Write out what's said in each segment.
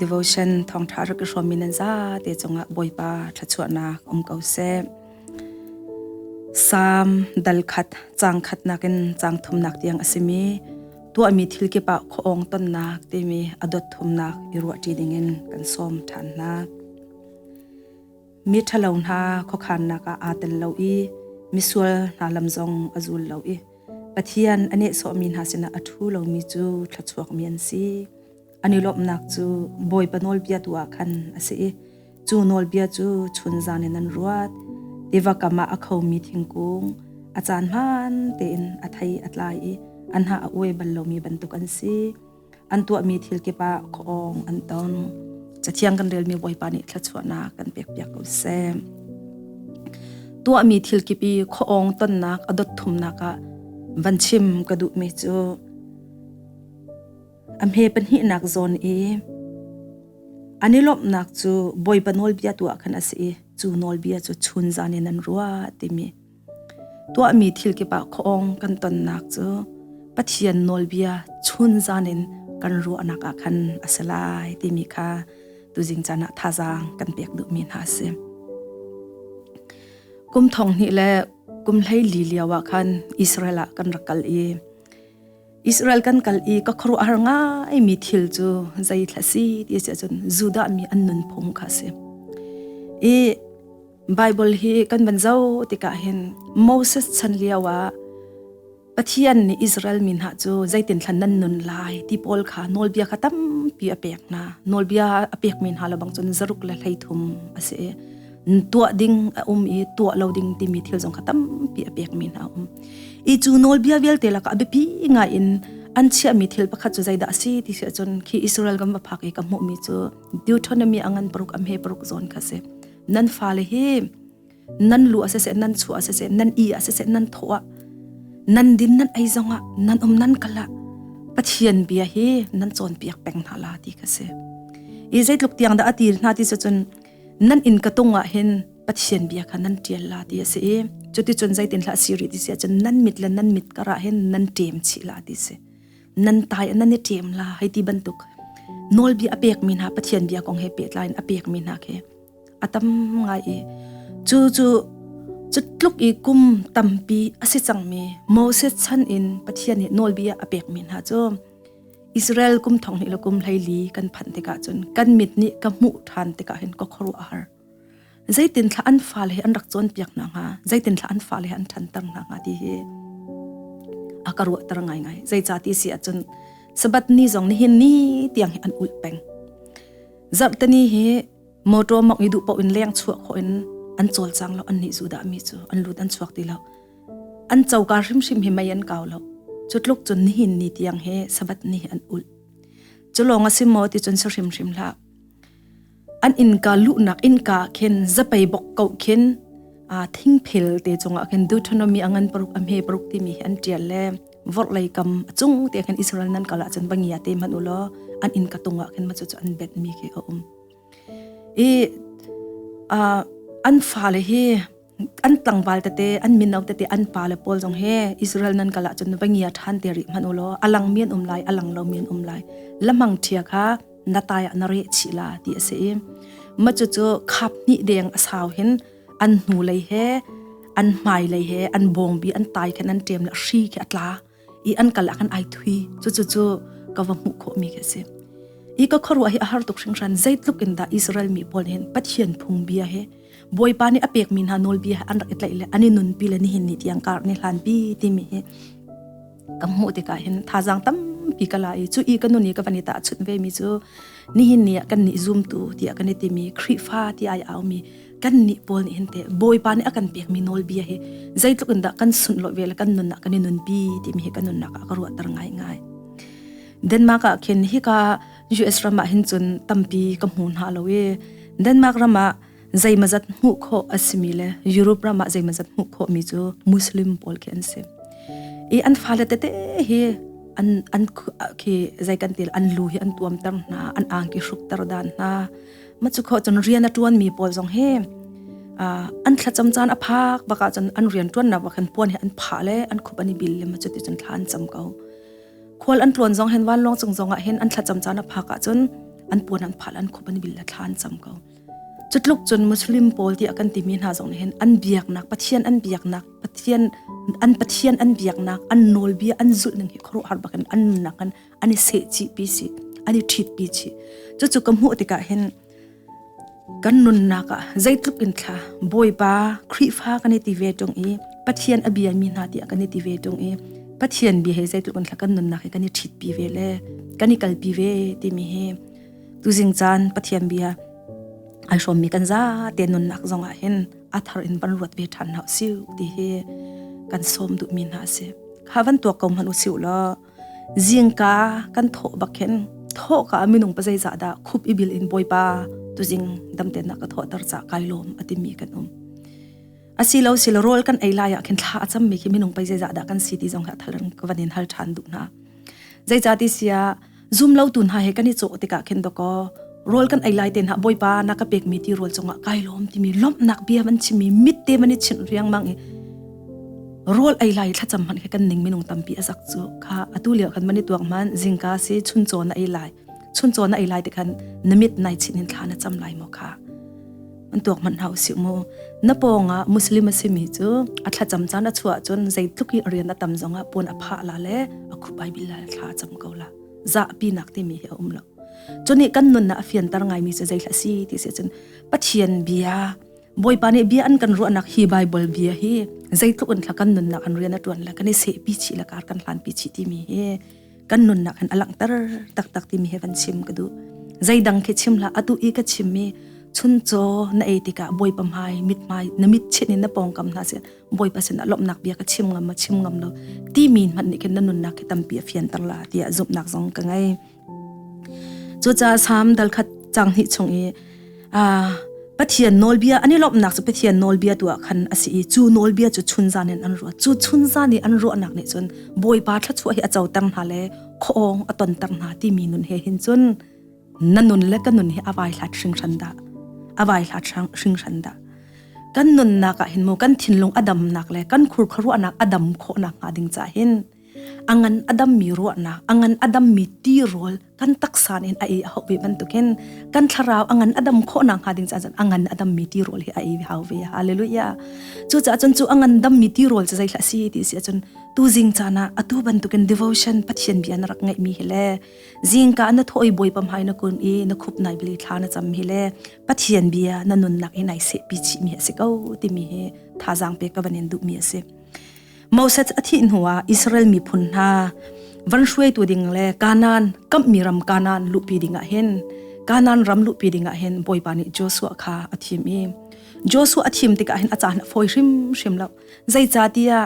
devotion thawngṭha rak i hrawm in nan za te cungah Bawipa thachuahnak um ko seh. Psalm dal khat cang khat nakin cang thumnak tiang asimi tuahmi thil kipa khoong tonnak timi adot thumnak i ruahṭi dingin kan som ṭhan hna. Mi ṭhalo hna khokhannak ah aa tel lo i misual hna lam zong a zul lo i Pathian ane so mi hna sinah a thu lomi cu thluachuak mi an si. An i lawmhnak cu Bawipa nawlbia tu ah khan a si i cu nawlbia cu chun zan in an ruat. Tiva kam ah a khomi thingkung a caan hmaan tein a thei a tlai i an hna a uai bal lomi bantuk an si. An tuahmi thil kip ah khuaawng an tong. Cathiang kan relmi Bawipa nih thluachuahnak kan pekpiak ko seh. Tuahmi thil kip i khuaawng tonnak a dot thumnak ah van chim ka duhmi cu a hme pahnihnak zawn i an i lawmhnak cu bawipa nawlbia tuah khan a si i cu nawlbia cu chun zan in an ruah timi tuahmi thil kipah khawng kan tonnak cu pathian nawlbia chun zan in kan ruahnak ah khan a si lai timi kha tuzing caan ah thazaang kan pek duhmi hna a si kum thong hnih le kum hlei li lio ah khan Israel ah kan rak kal i Israel kan kal i ka khuaruahhar ngaimi thil cu zeitlha si ti si ahcun Judah mi an nun phung kha a si. I Bible hi kan van zo tikah hin Moses chan lio ah Pathian nih Israel mi hna cu zeitin thlan nan nun lai ti pawl kha nawlbia kha tampi a pek hna. Nawlbia a pekmi hna lo bang cun zaruk le hleithum a si i tuah ding a um i tuah lo ding timi thil zong kha tampi a pek mi hna um i cu nawlbia vialte laka a biapi ngai in an chia mi thil pakhat cu zeidah si ti si cun khi Israel gam phak i ka hmuh mi cu Deuteronomy angan paruk am he paruk zawn kha si nan fale hi nan lu ase se nan chu ase se nan i ase se nan thoa nan din nan ai zonga nan om nan kala pathian bia hi nan chon piak peng hna la ti ka se i zeitluk tiang da atir hna ti se cun nan in ka tung ah hin pathian bia kha nan tial la ti a si i cuti cun zeitin hla siri ti sia cun nan mit le nan mit kara hin nan ṭem chi la ti si nan tai nan i ṭem la hei ti bantuk nawlbia a pek mi hna pathian bia kong he pehtlai in a pek mi hna khi a tam ngai i cu cu cu tluk i kum tampi a si cang mi moses chan in pathian nih nawlbia a pek mi hna cu Israel kum thong hnih le kum hleili kan phanh tikah cun kan mit nih ka hmuh ṭhan tikah hin ka khuaruah a har. Zeitin thla an fale he an rak cawnpiak hna hnga, zeitin thla an fale he an ṭhanter hna hnga ti hi a ka ruahter ngaingai. Zeica ti si ahcun Sabbath ni zong nihin ni tiang hi an ulh peng. Zarhteni hi motor mok i duh paoh in leng chuak ho in an cawl cang lo an nih zu dah mi cu an lut an chuak ti lo. an choka hrimhrim hi mei an kau lo cu tluk cun nihin ni tiang he sabat ni an ul cu lawng a si maw ti cun sa hrimhrim hlah an inka luhnak inka khin zapei bok ko khin a thingphel te chunga khin deuteronomy angan paruk am he paruk ti mi an tial le vor lei kam chung te khin israel nan kala chan bangia te man ulo an in ka tunga khin ma chu chu an bet mi ke a um i a an fa le hi an tlangval tete an min au tete an pa le pawl zong he Israel nan kala chun bangia than te ri man ulo alang mian um lai alang lo mian um lai lamang thia kha nataya na re chi la ti ase im ma chu chu khap ni deng asau hin an hnu lei he an mai lei he an bong bi an tai khan an tem la shi ke atla i an kal akan ai thui chu chu chu ka va mu kho mi ka si i ka khorwa hi a har tuk hringhran zeitluk in da Israel mi pawl hin pathian phung bia he boipa ni apek mi hna nol bia an rak itlai le ani nun pi le ni hin ni tiang kar ni hlan pi ti mi hi ka mu te ka hin thazang tam pi kala i chu i ka nun i ka vanita chut ve mi chu ni hin ni kan ni zoom tu ti kan ti mi khrifa ti ai au mi kan ni pawl nih hin te bawipa nih a kan pek mi nawlbia hi zeitluk in dah kan sunh lo ve le kan nun ah kan i nunpi timi hi kan nunnak ah ka ruahter ngai ngai Denmark ah khin hika US ram ah hin cun tampi ka hmu hna lo i Denmark ram ah zeimazat hmuh kho asimi le Europe ram ah zeimazat hmuh kho mi cu Muslim pawl khi an si i an fale tete hi an an khi zei kan til an lu hi an tuam ter hna an ang ki hruk ter dan hna ma chu kho chun rian a tuan mi pawl zong hi an thla cham chan a phak baka chun an rian tuan na wa khan puan he an pha le an khup ani bil le ma chu ti chun thlan cham ko khol an tuan zong hen wan long chung zonga hen an thla cham chan a phaka chun an puan an phal an khup ani bil la thlan cham ko chutluk chun muslim pawl ti akan timi na zong hen an biak nak pathian an biak nak pathian an pathian an biak nak an nol bia an zul ning hi khoro har bakan an nunnak kan an i se chi pi si an i thit pi chi chu chu ka hmuh tikah hin kan nunnak ah zeitluk in thla bawipa khrifa kan i ti ve tung i pathian abia mi hna ti kan i ti ve tung i pathian bia he zeitluk in thla kan nunnak hi kan i thit pi ve le kan i kal pi ve timi hi tu jing chan pathian bia ai hrom mi kan za te nunnak zongah hin athar in ban ruat ve than hau siu ti hi kan som du mi na se kha van to ko man u siu lo zingka kan thaw bakin thaw ka minung pa zeizah da khup ibil in boipa tu jing damten na ka thaw tar cha kai lom atimi kan um asilo sil rol kan ei laya khin thla acham mi ki minung pa zeizah da kan city zong ha thalang kwanin hal than du na zeizah ti sia zoom lo tun ha he kani cho tika khin doko rol kan ei lai ten ha boipa na ka pek mi ti rol chunga kai lom timi lom nak bia man chimi mit te mani chin riang mang i rual ei lai thlacam hmanh kha kan ning minung tampi a zak cu kha atu lio khan mani tuang man zingka si chun chaw na ei lai chun chaw na ei lai te khan namit nai chin hin thla na cham lai mo kha an tuak man hau si mu na ponga muslim asimi chu a thla cham chan a chuwa chun zeitluk i rian a tam zonga pon a pha la le a khupai bilal thla cham ko la za pi nak ti mi hi um lo chuni kan nun na afian tar ngai mi se zeithla si ti se chun pathian bia Bawipa nih bia an kan ruahnak hi Bible bia hi zeitluk in thla kan nunnak an rian a tuan la kan i seh pi chi la kar kan hlan pi chi timi hi kan nunnak an alangter taktak timi he kan chim ka du zeidang khi chim la atu i ka chim mi chun cho na ei tikah boi pa mai mit mai na mit chin in na pongkam hna se boi pa sin alomnak bia ka chim ngam ma chim ngam lo ti min man ni ken na nunnak ki tampi a fian tar la tia zupnak zong ka ngai cu ca sam dal khat chang hi chung i a pathian nawlbia ani lomnak chu pathian nawlbia tu ah khan asi i chu nawlbia chu chun zan in an ruah chu chun zan i an ruahnak nih cun bawipa thlachuah hi a co tang hna le khoong a ton tang hna ti mi nun he hin cun na nun le ka nun hi avai hlat hring hran da avai hlat hring hran da kan nunnak ah hin mo kan thinlung adamnak le kan khurkharuanak adam khawnak hnga ding cha hin angan adammi ruahnak angan adammi tirawl kan taksan in ai a hope bantukin kan thlarau angan adam khona nga ding cha angan adammi tirol hi ai hau ve hallelujah chu cha chun chu angan dammi tirol cha zai si ti si chun tu jing cha na atu bantukin devotion pathian bian rak ngai mi hele jing ka na thoi boi pam hai na kun i na khup nai bili thla na cham hi le pathian bia na nun nak i nai se pi chi mi se ko ti mi hi tha jang pe ka banin du mi ase Moses a thih hnu ah Israel miphun hna van hruaitu ding le Kanan kammi ram Kanan luhpi ding ah hin Kanan ram luhpi ding ah hin Bawipa nih Joshua kha a thim i Joshua a thim tikah hin a caan a fawi hrimhrim lo zeicatiah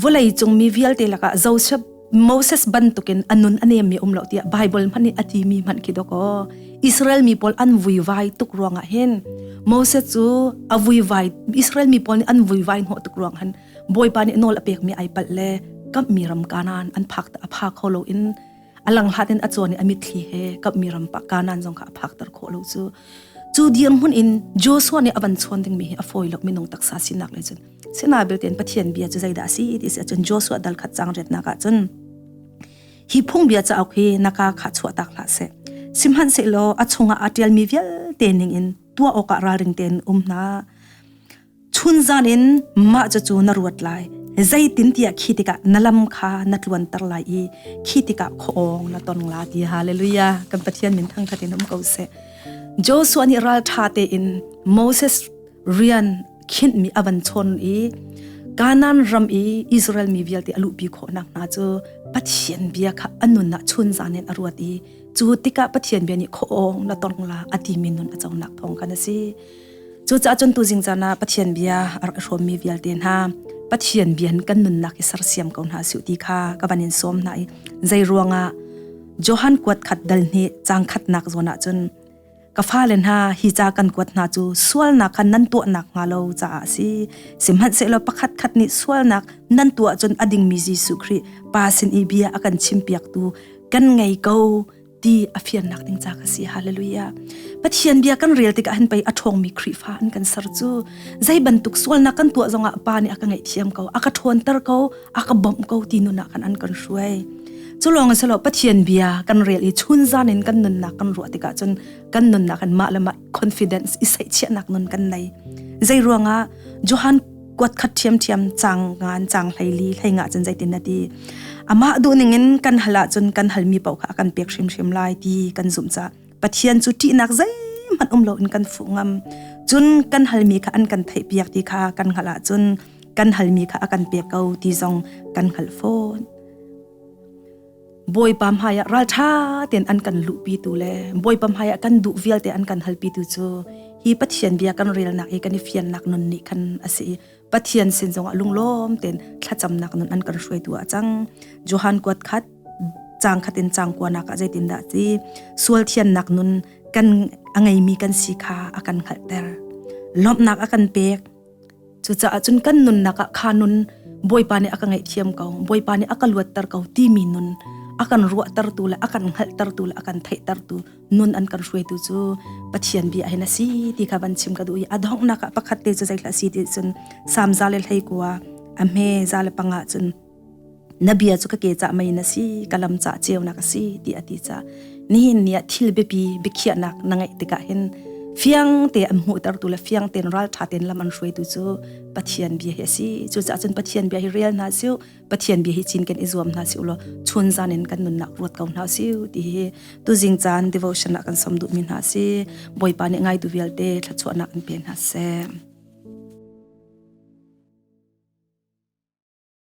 vawlei cung mi vialte lakah Joseph Moses bantukin a nun a nemmi um lo tiah Bible hmanh nih a timi hmanh khi dok aw Israel mi pawl an vuivai tuk ruangah hin Moses cu a vuivai Israel mi pawl nih an vuivai hnawh tuk ruang han bawipa nih nawl a pekmi ai palh le kammi ram kanan an phak a pha kho lo in alang hlatin a chuan i a mitthli he kammi ram pa kanan zong kha a phak ter khawh lo cu cu dirhmun in Joshua nih a van chuan dingmi hi a fawi lo minung taksa sinak le cun sena bilten pathian bia chu zeidah si it is achun joshua dal khat chang ret nak achun hi phung bia cha ok hi naka kha chuwa tak la se simhan se lo achunga atial mi vial te ning in tua oka raling ten um na chun zan in ma cha chu na ruat lai zeitin tia khitika nalam kha na tluan tar lai i khitika khong na ton la ti hallelujah kan pathian min thang khatin um ko se joshua ni ral tha te in moses rian khinh mi avan chon i kanan ram i israel mi vialte alu pi kho nak na chu pathian bia kha anun na chun zanen aruat i chu tika pathian bia ni khong na tong la ati min nun achau nak thong kan asi chu cha chun tu jing chana pathian bia ar hrom mi vialte na pathian bian kan nun nak isar siam ko na su ti kha ka banin som na i zai ruanga johan kwat khat dal ni chang khat nak zona chun ka fale hna hi ca kan kuat hna cu sualnak khan nan tuahnak hnga lo caah si sihmanhsehlaw pakhat khat nih sualnak nan tuah cun a dingmi Jesuh Khrih pa sin i bia a kan chim piaktu kan ngei ko ti a fiannak ding ca ka si hallelujah pathian bia kan rel tikah hin pei a ṭhawngmi Khrihfa an kan ser cu zei bantuk sualnak kan tuah zongah pa nih a ka ngaihthiam ko a ka ṭhawnter ko a ka bom ko ti nuna kan an kan hruai cu lawng a selo pathian bia kan rel i chun zan in kan nunnak kan ruah tikah cun kan nunnak an mah le mah confidence i sai chiahnak nun kan nei zei ruanga johan kwat khat thiam thiam chang ngan chang hlaili hlainga chan zaitin nati ama du ning in kan hala chun kan halmi pau kha kan pek hrim hrim lai ti kan zum cha pathian cu ṭihnak zeihmanh um loin kan fuh ngam cun kan halmi kha an kan theihpiak ti kha kan hngalh ahcun kan halmi kha a kan pek ko ti zong kan hngalh fawn bawipa hmaiah ralṭha ten an kan luhpi tu le bawipa hmaiah kan duh vialte an kan halpi tu cu hi pathian bia kan relnak i kan i fiannak nun nih khan a si pathian sin zong a lunglawm ten thlacamnak nun an kan hruaitu a cang johan kuat khat chang khatin chang kwa nak a zeitin da ti sual thian nak nun kan angei mi kan si kha akan khalh ter lomnak akan pek cu ca cun kan nun naka kha nun boipa ne aka ngei thiam ko boipa ne aka luat ter ko ti mi nun akan ruwa ter tu le akan hngal ter tu le akan thei ter tu nun an kan hruaitu cu pathian bi ahin asi ti kha van chim ka du i a donghnak ah pakhat te cu zeitla si ti cun samza le hlei kua a hme za le panga cun na bia cu ka ke ca mai na si ka lam ca ceunak asi ti ati ca nihin ni thil biapi bikhianak na ngai tikah hin fiang te an mu ter tu le fiang ten ral tha ten lam an hruaitu cu pathian bia hi asi chu ca cun pathian bia hi real na siu pathian bia hi chin kan i zuam hna si ulo chun zan in kan nun nak ruat ko hna si ti hi tu jing chan devotion ah kan som du mi hna si boipa ne ngai tu vialte thlachuah nak in pe hna se